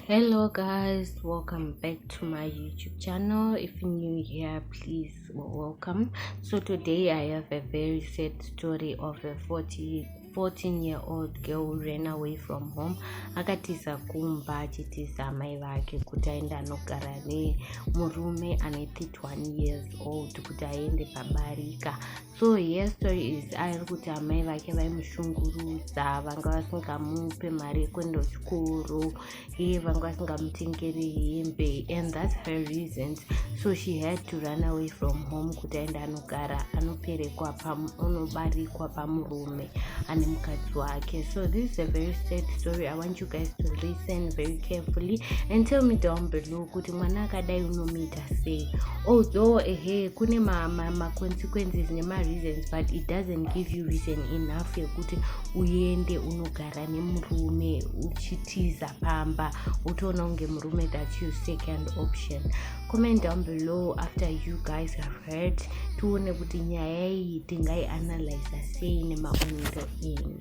hello guys welcome back to my youtube channel if you're new here please welcome so today i have a very sad story of a 40 14 year old girl who ran away from home akatiza kumba achitiza amai vake kuti aende anogara nemurume ane 31 years old kuti aende pabarika so here story is airi kuti amai vake vaimushungurudza vanga vasingamupe mari yekuenda kuchikoro iye vanga vasingamutengeri hembe and thats her reasons so she had to run away from home kuti aende anogara anoperekwa anobarikwa pamurume ane mukadzi wake so this is a very sad story i want you guys to listen very carefully and tell me down below kuti mwana akadai unomuita say although ehe kune maconsequences ma, ma nemareasons but it doesn't give you reason enough yekuti uende unogara nemurume uchitiza pamba utoona kunge murume that you second option comment down below after you guys have heard tione kuti nyaya iyi tingaianalyza sei nemaonero enyu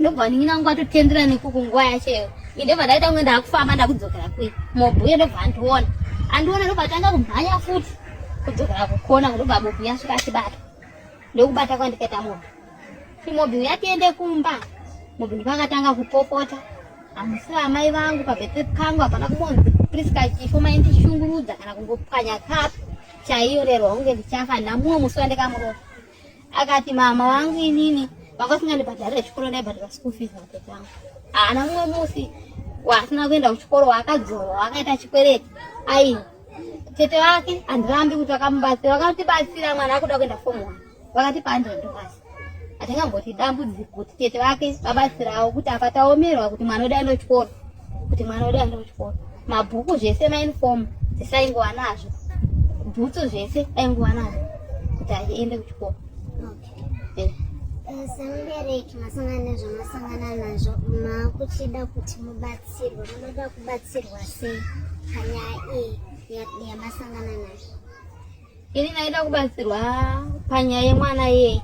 ndobva ndinina nguva totendera nekuku nguva yacheyo indobva ndaita kunge ndakufamba ndakudzokera kwe mobhuya ndobva andiona andiona ndobva tanga kumhanya futi kudzokera kukona ndobva mobhuya svika achibata ndokubata kwandikaita mobhu imobhuya tiende kumba mobhu ndipakatanga kupopota hamusi vamai vangu pabete kangu hapana kumonzi priska chifo maindishungurudza kana kungopwanya kapu chaiyo rero hunge ndichafa namumwe musi wandikamuroa akati mama wangu inini vanga singandibhadharire chikoro ndaibhadhara school fees matete angu haana mumwe musi waasina kuenda kuchikoro waakadzora waakaita chikwereti ai tete vake handirambi kuti vakamubatsira vakatibatsira mwana akuda kuenda form one vakatipa hundred dollars hatingamboti dambudziko kuti tete vake vabatsirawo kuti apa taomerwa kuti mwana udaenda kuchikoro kuti mwana wedu aende kuchikoro mabhuku zvese maunifomu zvese aingova nazvo bhutsu zvese aingova nazvo kuti aende kuchikoro eh. eh, semubereki masangana nezvamasangana nazvo makuchida kuti mubatsirwe munoda kubatsirwa sei panyaya iyi yamasangana nazvo ini ndaida kubatsirwa panyaya yemwana yei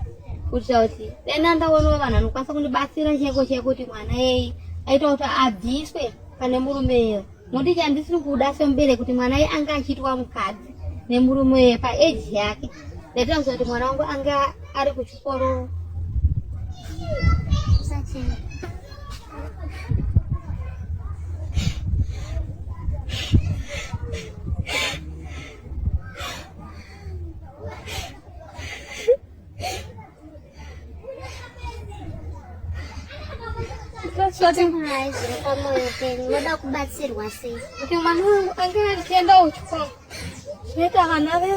kuitira kuti dai nandawoniwa vanhu vanokwanisa kundibatsira cheko cheko kuti mwana yei aita kuti abviswe pane murume iyo nokuti chandisiri kuda sembere kuti mwana ye ange achiitwa mukadzi nemurume uye paeji yake ndaitoziva kuti mwana wangu ange ari kuchikoro Yeah. moda kubatsirwa sei kuti mwana wangu ange achienda kuchikoro zvinoita vana ve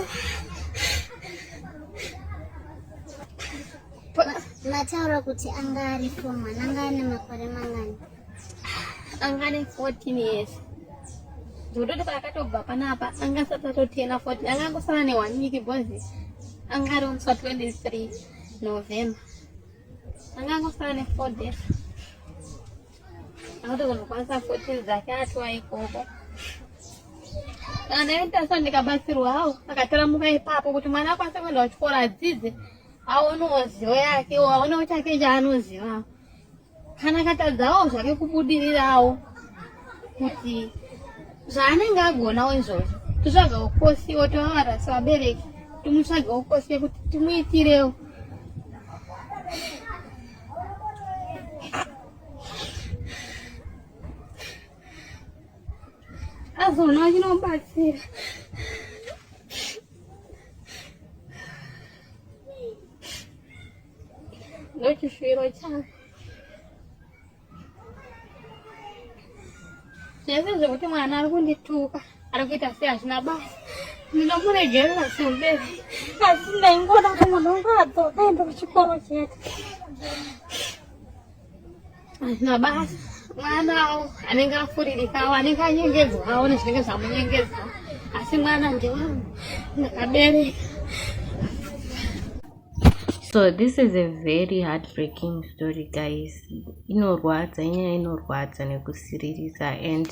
mataura kuti anga ari fo mwana anga ane makore mangani anga ane 14 years ndototi paakatobva panapa anga asati atotena 14 anga angosara ne one week bhozi anga ari onsa 23 november anga angosara ne four days akutozonokwanisa 14 dzake atiwa ikoko kana ndaendasa ndikabatsirwa hawo akataramuka ipapo kuti mwana akwanisa kuenda kuchikoro adzidze aonewo zivo yake aonewo chake chaanozivawo kana katadzawo zvake kubudirirawo kuti zvaanenge agonawo izvozvo totsvagawo kosi otovavara sevabereki timutsvagawo kosi yekuti timuitirewo azoona achinobatsira ndochishwiro changu zvese zvekuti mwana ari kundituka ari kuita sei hazvina basa ndinomuregerera semberi asi ndaingoda kuti mwana wangu adzoka ende kuchikoro chete hazvina basa mwanawo anenge afuririkawo anenge anyengedzwawo nezvinenge zvamunyengedzwa asi mwana ndewangu ndakabereka so this is a very heartbreaking story guys inorwadza inyaya inorwadza nekusiririsa and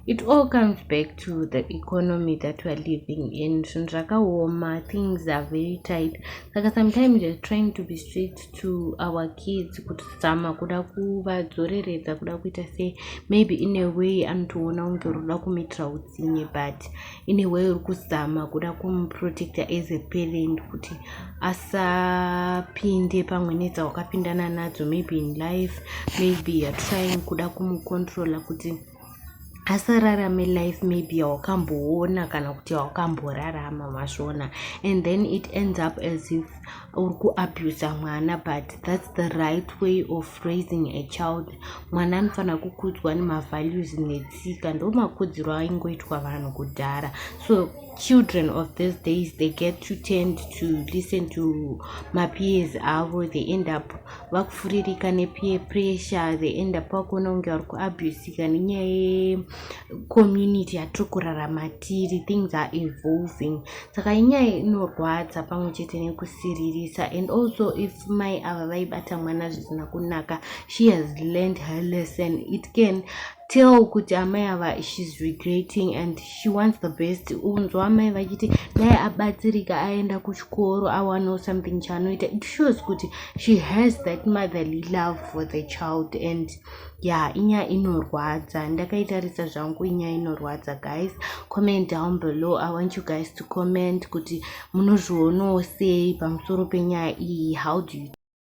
it all comes back to the economy that weare living in zvinhu zvakaoma things are very tight saka sometimes you're trying to be street to our kids kutizama kuda kuvadzoreredza kuda kuita sei maybe in a way anotoona kunge uri kuda kumuitira utsinye but in a way uri kuzama kuda kumuprotecta as a parent kuti asapinde pamwe nedzawakapindana nadzo maybe in life maybe youare trying kuda kumucontrola kuti asararame life maybe yawakamboona kana kuti yawakamborarama masvona and then it ends up as if uri kuabusa mwana but thats the right way of raising a child mwana anofanira kukudzwa nemavalues netsika ndomakudziro aingoitwa vanhu kudhara so children of these days they get to tend to listen to mapeers avo they end up vakufuririka nepeer pressure they end up vakuona kunge vari kuabusika nenyaya yecommunity yatiri kurarama tiri things are evolving saka inyaya inorwadza pamwe chete nekusiririsa and also if mai ava vaibata mwana zvisina kunaka she has learned her lesson it can tell kuti amai ava shes regretting and she wants the best unzwa amai vachiti dai abatsirika aenda kuchikoro awanawo something chaanoita it shows kuti she has that motherly love for the child and ya yeah, inyaya inorwadza ndakaitarisa zvangu inyaya inorwadza guys comment down below i want you guys to comment kuti munozvionawo sei pamusoro penyaya iyi how do you